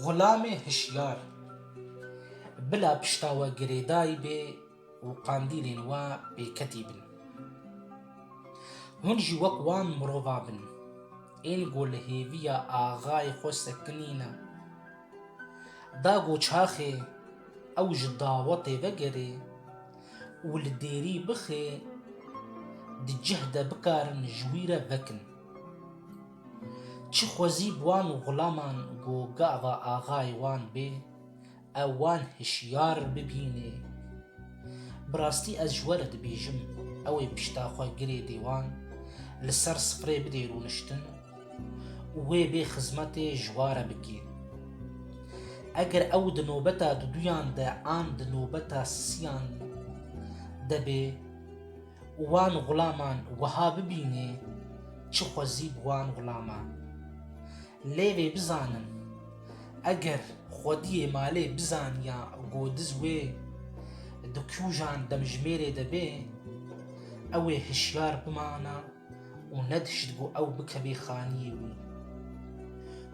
Xulamê hişyar, bila pişta we girêdayî bê û qandîlên we bêketî bin. Hûn jî wek wan mirova bin, ên ku li hêviya axayê xwe sekinîne. Da ku çaxê ew ji dawetê vegerê û li dêrî bixê, di cih de bikarin ji wî re vekin. Çi xwezî bi wan xulaman ku gava axayê wan bê, ew wan hişyar bibînê. Bi rastî ez ji we re dibêjim, ew ê pişta xwe girê dêwan, li ser sprê bidê rûniştin û wê bê xizmetê ji wa re bikê. Eger ew di nobeta duduyan de an di nobeta siyan de bê, û wan xulaman wiha bibînê çi xwezî bi wan xulaman. Lê vê bizanin, eger xwediyê malê bizaniya godiz wê di kûjan demjimêrê de bê, ew ê hişyar bimana û nedihşt ku ew bikevê xaniyê wî.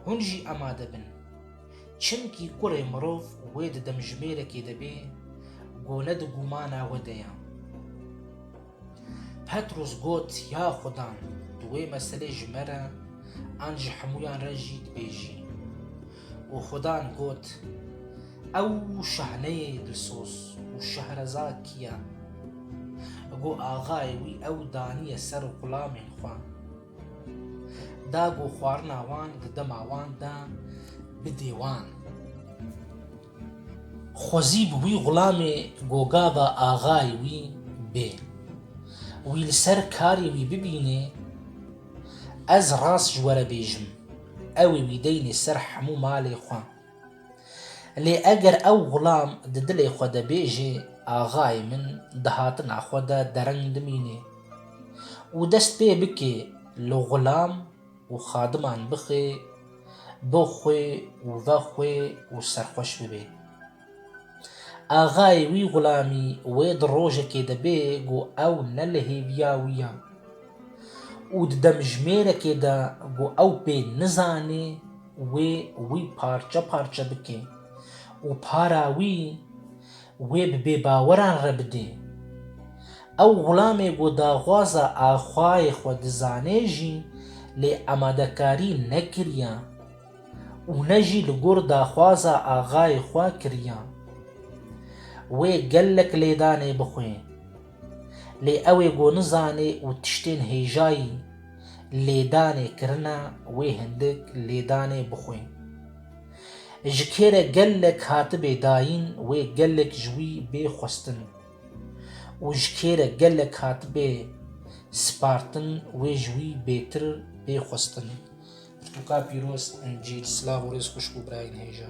Hûn jî amade bin. Çimkî kurê mirov wê di demjimêrekê de bê ku ne di gûmana we de ye. Petrûs got, Ya Xuda, tu wê meselê ji me re an ji hemûyan re jî dibêjî. Û Xudan got, Ew şahneyê dilsoz û şehrezad kî ye, ku axayê wî ew daniye ser xulamên xwe? Da ku xwarina wan di dema wan de bidê wan. Xwezî bi wî xulamê gogava axayê wî bê. Wî li ser karê wî bibînê, ez rast ji we re bêjim, ew ê wî deynê ser hemû malê xwe. Lê eger ew xulam di dilê xwe de bêjê, Axayê min di hatina xwe de dereng dimînê. û dest pê bike li xulam û xadiman bixe bo xwe û ve xwe û serxweş bibe. Axayê wî xulamî wê di rojekê de bê ku ew ne li hêviya wî ya û di demjimêrekê de ku ew pê nizanê wê wî parçe parçe bike û para wî Wê bi bêbaweran re bidê. Ew wilamê ku daxwaza axwayê xwe dizanê jî lê amadekarî nekiriya û ne jî li gor daxwaza axayê xwe kiriya. Wê gelek lêdanê bixwê. Lê ew ê ku nizanê û tiştên hêjayî lêdanê kirine wê hindik lêdanê bixwê. Ji kê re gelek hatibê dayîn wê gelek ji wî bê xwestin û ji kê re gelek hatibê spartin wê ji wî bêtir bê xwestin. Pirtûka pîroz Încîl Silav û rêz xwişk û birayên hêja.